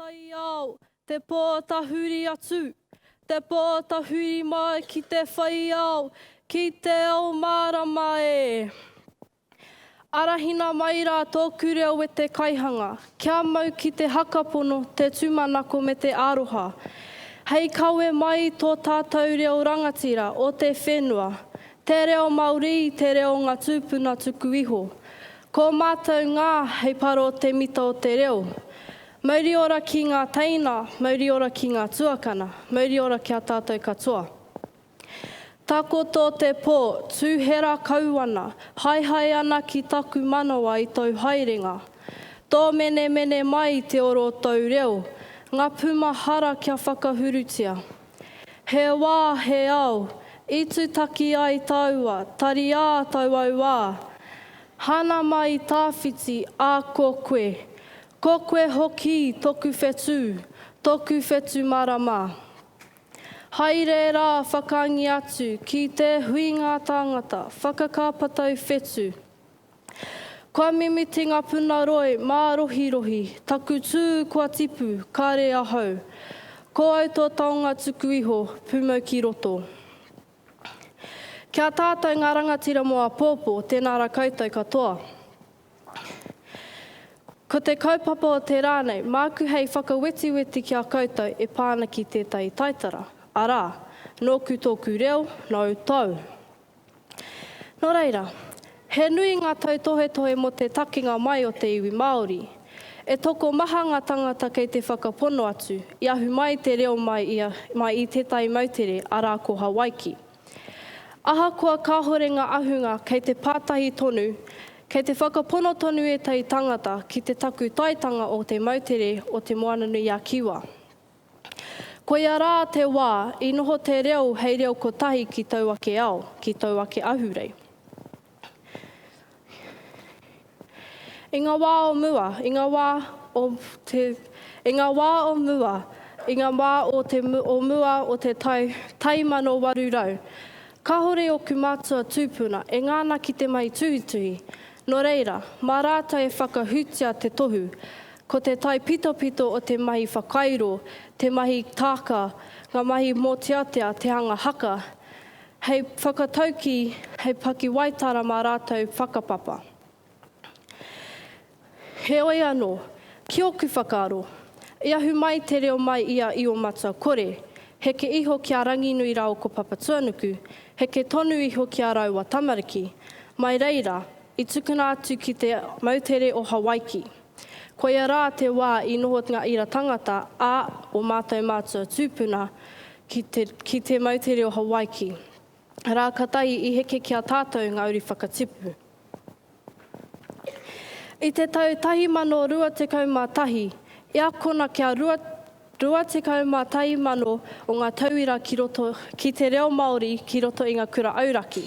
Taiao, te pō tahuri atu, te pō tahuri mai ki te whaiao, ki te ao mārama e. Arahina mai rā tōku reo e te Kaihanga, kia mau ki te hakapono, te tūmanako me te aroha. Hei kawe mai tō tātou reo rangatira o te whenua, Te reo Maori i te reo o nga tupuna tuku iho. Ko matou nga hei paro te mita o te reo. Mauri ora ki nga teina, mauri ora ki nga tuakana, mauri ora ki a tatou katoa. Takoto te po, tuhera kau ana, haehae ana ki taku manawa i tou haerenga. Tomenemene mai te oro o tou reo, nga puma hara kia whakahurutia. He wā, he ao, i tutaki ai taua, tariā tau au wā. Hana mai i tāwhiti, a ko koe. Ko koe hokī toku whetū, toku whetu marama. Hai rērā whakangi atu ki te huingā tāngata, whakakāpatau whetu. Kua mimiti nga puna roi ma rohi rohi, taku tu kua tipu, kare ahau. Ko au to taonga tuku iho, pumau ki roto. Kia tatou nga rangatira mo apopo, tena ra koutou katoa. Ko te kaupapa o te ra nei, maku hei whakawetiweti ki a koutou e pa ana ki tetahi taitara, ara, noku toku reo, nou tou. Nō reira, he nui ngā tautohetohe mō te takenga mai o te iwi Māori. E tokomaha ngā tāngata kei te whakapono atu, i ahu mai te reo mai i mai i tētahi moutere, arā ko Hawaiki. Ahakoa kāhore ngā ahunga kei te pātahi tonu, kei te whakapono tonu ētahi tāngata ki te takutaitanga o te moutere o Te Moana-nui-a-Kiwa. Koia rā te wā i noho te reo hei reo kotahi ki tau ake ao, ki tau ake ahurei. I ngā wā o mua, i ngā wā o te, i ngā wā o mua, i ngā wā o te o mua o te tai, tai mano waru rau, kāore oku mātua tūpuna e ngana ki te mahi tuhituhi, nō reira, mā rātou e whakahūtia te tohu, Ko te taipitopito o te mahi whakairo, te mahi tāka, ngā mahi mōteatea, te hanga haka, hei whakataukī, hei pakiwaitara mā rātou whakapapa. Heoi anō, ki ōku whakaaro, i ahu mai te reo mai i a Io-matua kore, heke iho ki a Ranginui rāo ko Papatuanuku, heke tonu iho ki a rāua tamariki. Mai reira, i tukuna atu ki te moutere o Hawaiki. Koia rā te wā i noho ngā ira tangata a o mātou mātua tūpuna ki te, ki te mau te reo Hawaiki. Rā katahi i heke ki a tātou ngā uri whakatipu. I te tau 1021, i akona kia rua, 21 mano o ngā tauira ki roto, ki te reo Māori ki roto i ngā kura auraki.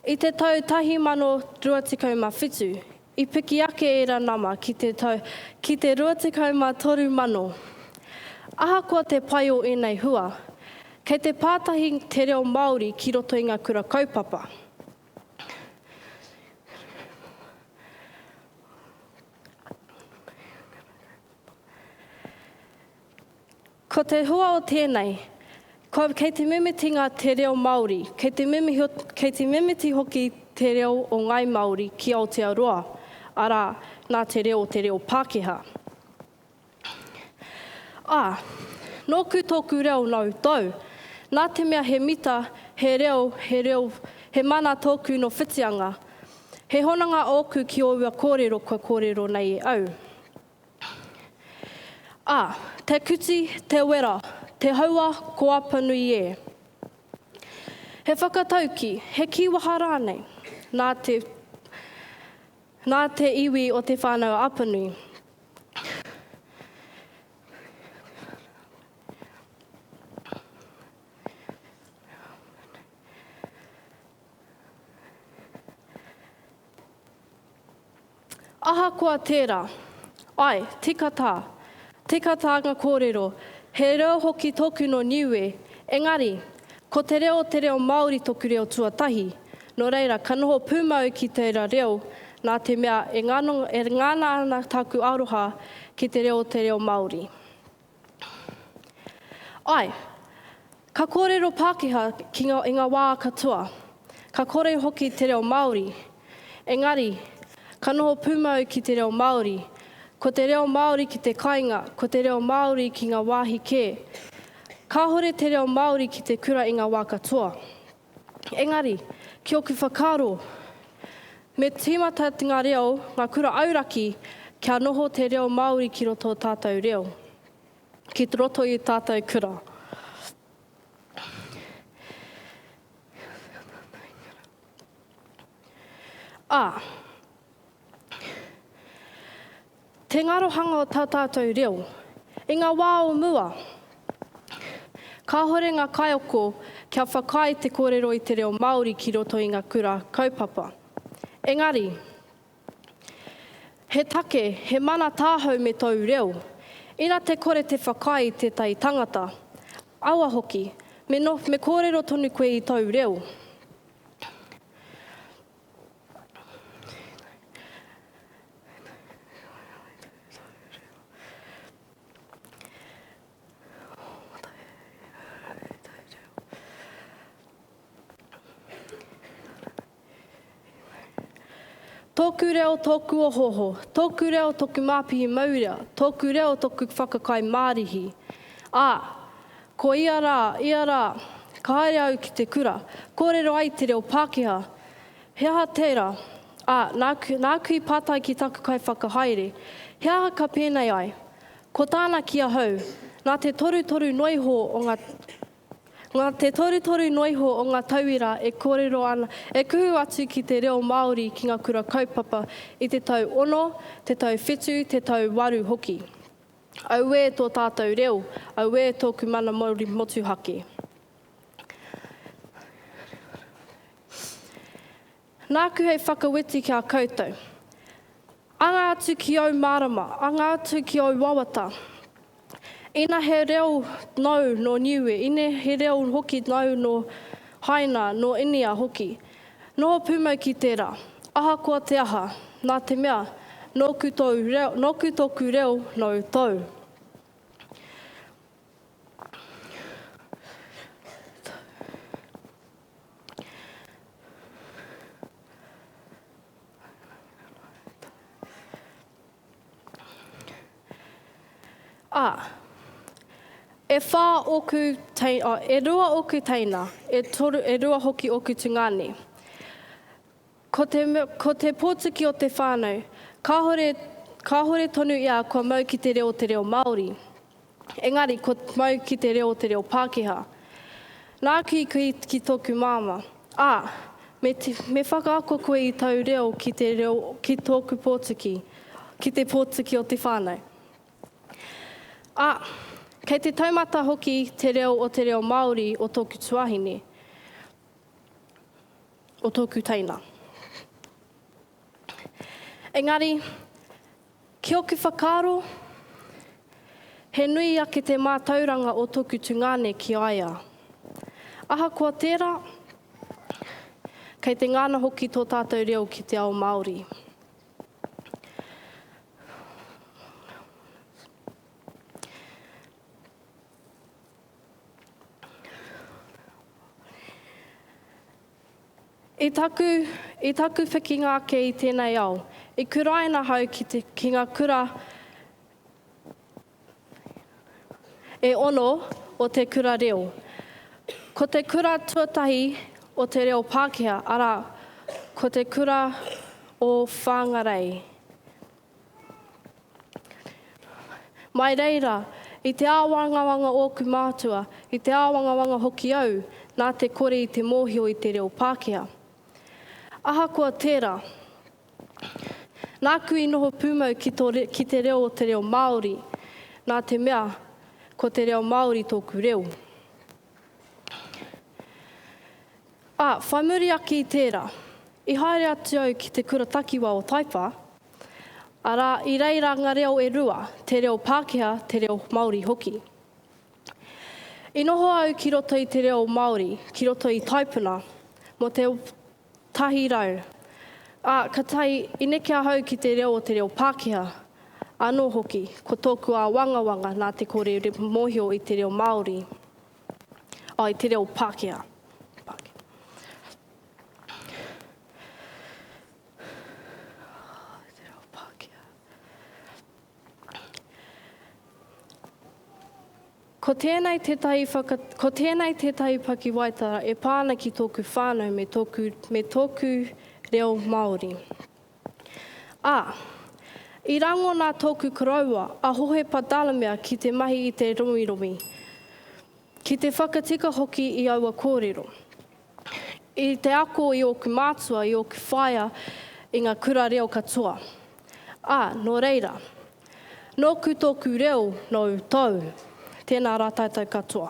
I te tau 1027, I piki ake ērā nama ki te tau ki te 23 mano. Ahakoa te pai o ēnei hua, kei te pātahi te reo Māori ki roto i ngā kura kaupapa. Ko te hua o tēnei, ko, kei te mimitinga te reo Māori, kei te, kei te mimiti hoki te reo o Ngāi Māori ki Aotearoa, arā, nā te reo o te reo Pākehā. Ā, nōku tōku reo nau tou, nā te mea he mita, he reo, he reo, he mana tōku nō Whitianga. He hononga ōku ki ōua kōrero kua kōrero nei e au. A, te kuti, te wera, te haua, ko Apanui e. He whakatauki, he kīwaha rānei, nā te, nā te iwi o Te Whānau Apanui. Ahakoa tērā, ae, tika tā, tika tā nga kōrero, he reo hoki tōku nō Niue, engari, ko te reo te reo Māori toku reo tuatahi, nō reira ka noho pūmau ki tēra reo nā te mea e ngana ana tāku aroha ki te reo te reo Māori. Ae. Ka kōrero Pākehā ki nga, i ngā wā katoa. Ka kore hoki te reo Māori. Engari, ka noho pūmau ki te reo Māori. Ko te reo Māori ki te kainga, ko te reo Māori ki ngā wāhi kē. Kāhore te reo Māori ki te kura i ngā wā katoa. Engari, ki ōku whakaaro, me tīmata ngā reo, ngā kura auraki, kia noho te reo Māori ki roto o tātou reo, ki roto i tātou kura. Ā, Te ngarohanga o tā tātou reo. I ngā wā o mua, kāhore ngā kaiako kia whakaae te kōrero i te reo Māori ki roto i ngā kura kaupapa. Engari, he take, he mana tāhau me tōu reo. Ina te kore te whakaae i tētahi tangata, aua hoki, me kōrero tonu koe i tōu reo. Tōku reo, tōku ohoho, tōku reo, tōku māpihi maurea, tōku reo, tōku whakakai mārihi. Ā, Ko ia rā, ia rā, ka haere au ki te kura, kōrero ai te reo Pākehā. He aha tērā? Ā, nāku, nāku i pātai ki taku kaiwhakahaere, He aha ka pēnei ai? Ko tāna ki ahau, Nā te torutoru noiho o ngā, nā te torutoru noiho o ngā tauira e kōrero ana, e kuhu atu ki te reo Māori ki ngā kura kaupapa i te tau ono, te tau whitu, te tau waru hoki. Auē tō tātou reo, auē tōku mana mauri motuhake. Nāku hei whakawetu ki a koutou. Anga atu ki ōu mārama, anga atu ki ōu wawata. Ina he reo nōu nō Niue, ina he reo hoki nōu nō Haina, nō Inia hoki, Noho pūmau ki tērā. Ahakoa te aha, nā te mea, nōku tōu reo, nōku tōku reo, nōu tōu. Ā, e whā ōku tei, ā, e rua ōku teina, e toru, e rua hoki ōku tungāne. Ko te, ko te pōtuki o te whānau, kāhore, kāhore tonu ia kua mau ki te reo o te reo Māori. Engari, kua mau ki te reo te reo Pākehā. Nāku i kī ki tōku māmā, ā, me, me whakaako koe i tau reo ki te reo, ki tōku Pōtuki, ki te Pōtuki o te whānau. Ā, kei te taumata hoki te reo o te reo Māori o tōku tuāhine, o tōku teina. Engari, ki oku whakaaro, he nui ake te mātauranga o toku tungāne ki a ia. Ahakoa tērā, kei te ngana hoki tō tātou reo ki te ao Māori. I taku, i taku whikinga ake i tēnei ao, i kuraina ahau ki te, ki nga kura e ono o te kura reo. Ko te kura tuatahi o te reo Pākehā, arā, ko te kura o Whangarei. Mai reira, i te āwangawanga ōku mātua, i te āwangawanga hoki au nā te kore i te mōhio i te reo Pākehā. Ahakoa tērā, nāku i noho pūmau ki, to, ki te reo o te reo Māori, nā te mea, ko te reo Māori tōku reo. Ā, whai muri ake i tērā, i haere atu au ki te kura takiwā o Taipa, arā, i reira ngā reo e rua, te reo Pākehā, te reo Māori hoki. I noho au ki roto i te reo Māori, ki roto i Taipuna, mō te Tahi rau. Ā, ka tae, i neke ahau ki te reo o te reo Pākehā. Anō hoki, ko tōku āwangawanga nā te kore mōhio i te reo Māori, ā, i te reo Pākehā. Pākehā. Ko tēnei tētahi whaka, ko tēnei tētahi pakiwaitara e pā ana ki tōku whānau me tōku, me tōku reo Māori. Ā, i rangona tōku koroua, a Hohe Patalamea ki te mahi i te rowirowi, ki te whakatika hoki i aua kōrero. I te ako i ōku mātua, i ōku whaea, i ngā kura reo katoa. Ā, nō reira, nōku tōku reo, nōu tōu. Tēnā rā tātou katoa.